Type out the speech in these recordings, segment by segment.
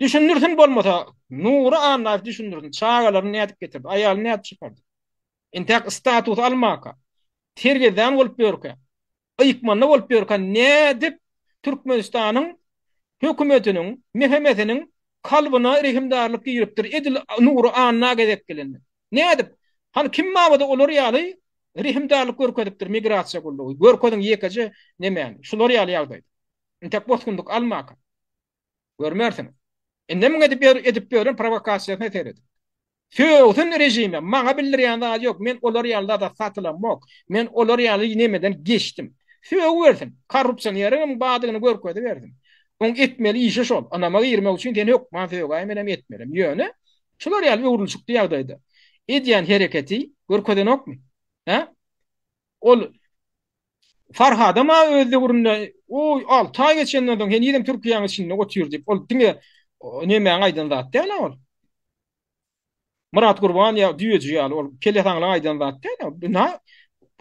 Düşündirsin bolmasa, Nury Annaýew düşündirsin, çagalaryny nädip getirdi, aýalyny nädip çykardy? Intäk status almaka, terbiýedan bolup ýörkä, ykmanda bolup ýörkä nädip Türkmenistanyň hökümetiniň, MHM-siniň kalbyna rehimdarlyk giripdir, edil Nury Anna gezek gelende? Nädip? Hany kim mabada olar ýaly rehimdarlyk görkezipdir migrasiýa gullugy? Görkeziň ýekeje nemäni? Şular ýaly ýagdaýda. Intäk bosgunlyk almaka. Görmersiň. Indem edip edip ýören prowokasiýasyna seret. Sögsin režime, maňa bildirýän zady ýok, men olar ýaly zada satylamok, men olar ýaly nemeden geçdim. Sögübersin, korrupsioneriňem badygyny görkezibersin. Oň etmeli işi şol, ynama girmek üçin seni hökman sögäý, menem etmelem. Ýöne, şular ýaly öwrülişikli ýagdaýda edýän hereketi görkezenokmy? Hä? Ol Farhadam aga öz döwründe, o, alty aý geçenden soň henizem Türkiýäň içinde otyr diýip, ol diňe Nemäň aýdan zat däl-ä ol. Myratgurban ýa Düýeji ýaly ol Kelesaňlaň aýdan zat däl-ä. Ynha,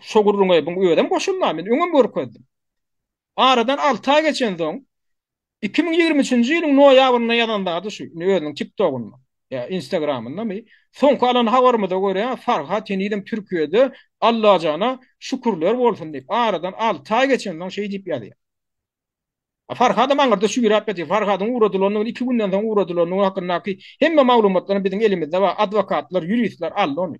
şo gürrüňe bu özem goşulman, men öňem görkezdim. Aradan alty aý geçensoň, Iki müň ýigrimi üçünji ýylyň noýabrynda ýazan zady şu, indi özüniň TikTok-ynda, ýa Instagram-yndamy, soňky alan habarymyza görä, Farhat henizem Türkiýede, Allajana şükürler bolsun diýip, aradan alty aý geçensoň şeý diýip ýazýar. A Farhadam aňyrda şüýräp ýatyr. Farhadyň ugradylanyny, iki günden soň ugradylanyny hakyndaky hemme maglumatlaram biziň elimizde bar, adwokatlar, ýuristler aldy ony.